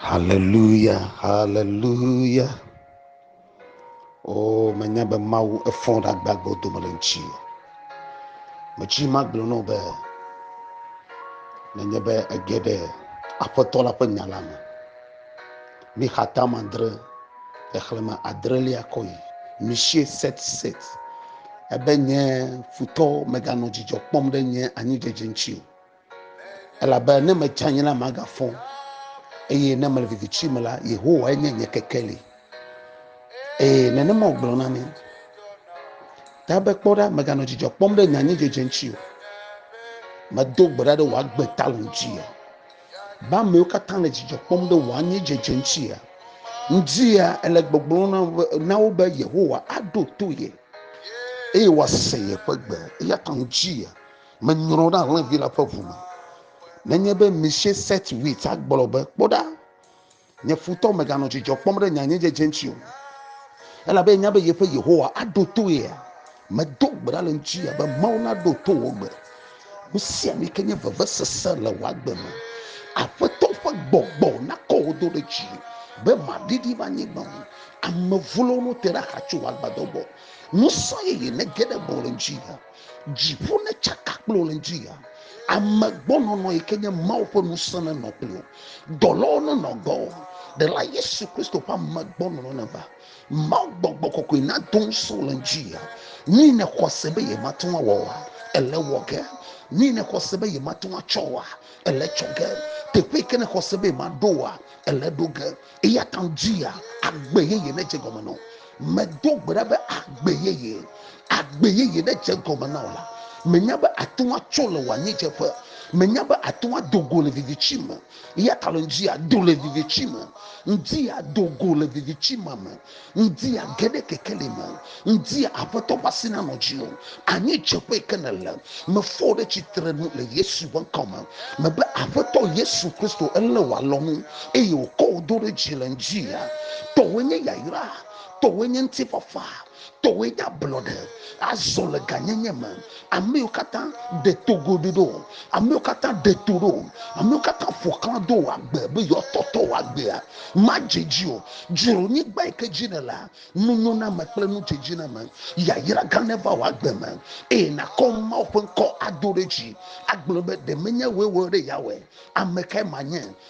Haleluya, haleluya. O, menya be Mawu efɔ ɖe agbagbewo dome le ŋuti. Metsi magblɔ nɔ be, nenye be ege ɖe Aƒetɔ la ƒe nya la me. Mi xatama adre, xexlẽme adrelia kɔ yi. Misie set set. Ebe nye futɔ meganɔ dzidzɔ kpɔm ɖe nye anyidzedze ŋuti o. Elabe ne metse anyi la, magafɔ, eye ne mele viviti me la, Yehowae nye nye kekeli. Ee, nenema wògblɔ na mi. Ta be kpɔ ɖa, meganɔ dzidzɔ kpɔm ɖe nye anyidzedze ŋuti o. Medo gbe ɖa ɖe wò agbe ta le ŋuti ya. Be amewo katã le dzidzɔ kpɔm ɖe wò anyidzedze ŋuti ya. Ŋdi ya ele gbɔgblɔ na wo be- na wo be Yehowa aɖo to ye eye wòase yeƒe gbe. Eya ta ŋdi ya. Menyrɔ ɖe alẽvi la ƒe ʋu me. Nenye be Misheset Wit agblɔ be, Kpɔ ɖa, nye futɔ meganɔ dzidzɔ kpɔm ɖe nye anyidzedze ŋuti o, elabe enya be yeƒe Yehowa aɖo to yea, medo gbe ɖa le eŋuti ya be, Mawu naɖo to wò gbe. Nu sia nu yi ke nye vevesese le wò agbe me. Aƒetɔ ƒe gbɔgbɔ nakɔ wò do ɖe dzi be màɖiɖi va anyigba o. Ame vlowo nu te ɖe axa tso wò agbadɔ gbɔ. Ŋusẽ yeye nege ɖe gbɔwò le ŋuti ya. Dziƒo netsaka kple wò le ŋdi ya. Ame gbɔnɔnɔ yi ke nye Mawu ƒe ŋusẽ nenɔ kple wò. Dɔlawo nenɔ gbɔ. Ɖela Yesu Kristo ƒe ame gbɔnɔnɔ neva. Mawu gbɔgbɔ kɔkɔe nado ŋusẽ wò le ŋdi ya. Nu yi nèxɔ se be yemate ŋu awɔ oa, ele wɔ ge. Nu yi nèxɔ se be yemate ŋu atsɔ oa, ele tsɔ ge. Teƒe yi ke nèxɔ se be yemaɖo oa, ele ɖo ge. Eya ta wodzi ya agbe yeye nedze gɔme na wo. Medo gbe ɖa be agbe yeye, agbe yeye nedze gɔme na wò la. Menya be àte ŋu atso le wò anyiedzeƒe. Menya be àte ŋu ado go le viviti me. Eya ta le ŋdi ya do le viviti me. Ŋdi ya do go le viviti ma me. Ŋdi a ge ɖe kekeli me. Ŋdi a Aƒetɔ ƒe asi nanɔ dziwò. Anyi dzeƒe yi ke nèle. Mefɔ wò ɖe tsitre nu le Yesu ƒe ŋkɔ me. Mebe, Aƒetɔ Yesu Kristo, elé wò alɔnu eye wòkɔ wò do ɖe dzi le ŋdi a. Tɔwòe nye yayra. Tɔwòe nye ŋutifafa. Tɔwòe nye ablɔɖe. Azɔ le gãnyenye me. Amewo katã ɖe to goɖoɖ ɖo. Amewo katã ɖe to ɖo. Amewo katã ƒo xlã do wò agbe be yewoatɔtɔ wò agbea. Madze dzi o. Dzro nyigba yi ke dzi nèlea. Nunyoname kple nudzedziname, yayra gã neva wò agbe me eye nàkɔ Mawu ƒe ŋkɔ ado ɖe dzi agblɔ be, Ɖe menye wòe wɔ ɖe yeawɔe? Ame kae manye?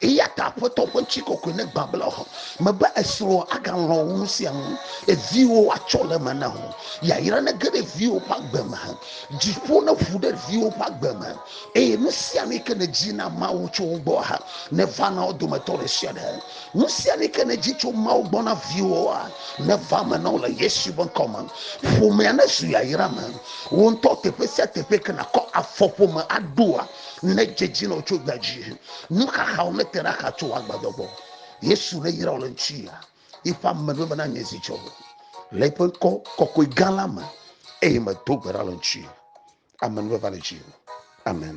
Eya ta Aƒetɔ ƒe ŋuti kɔkɔe negbã be le xɔ me be esrɔ̃ agalɔ̃ wu nu sia nu. Eviwo atsɔ le eme na wò. Yayra nege ɖe viwo ƒe agbe me. Dziƒo neƒu ɖe viwo ƒe agbe me. Eye nu sia nu yi ke nèdi na Mawu tso wo gbɔ hã neva na wo dometɔ ɖe sia ɖe. Nu sia nu yi ke nèdi tso Mawu gbɔ na viwòa neva eme na wo le Yesu ƒe ŋkɔ me. Ƒomea nezu yayra me. Wò ŋutɔ teƒe sia teƒe yi ke nàkɔ afɔ ƒome aɖoa, ne dzedzi nɔ tso gbe dzi nu xaxawo ne te ɖe axa tso agbadɔ gbɔ yesu ne yra le ŋuti ya yiƒe ame ɖo bena nye zi dzɔ le yiƒe ŋkɔ kɔkɔe gã la me eye medo gbe ɖa le ŋuti ame ne va le dzi amen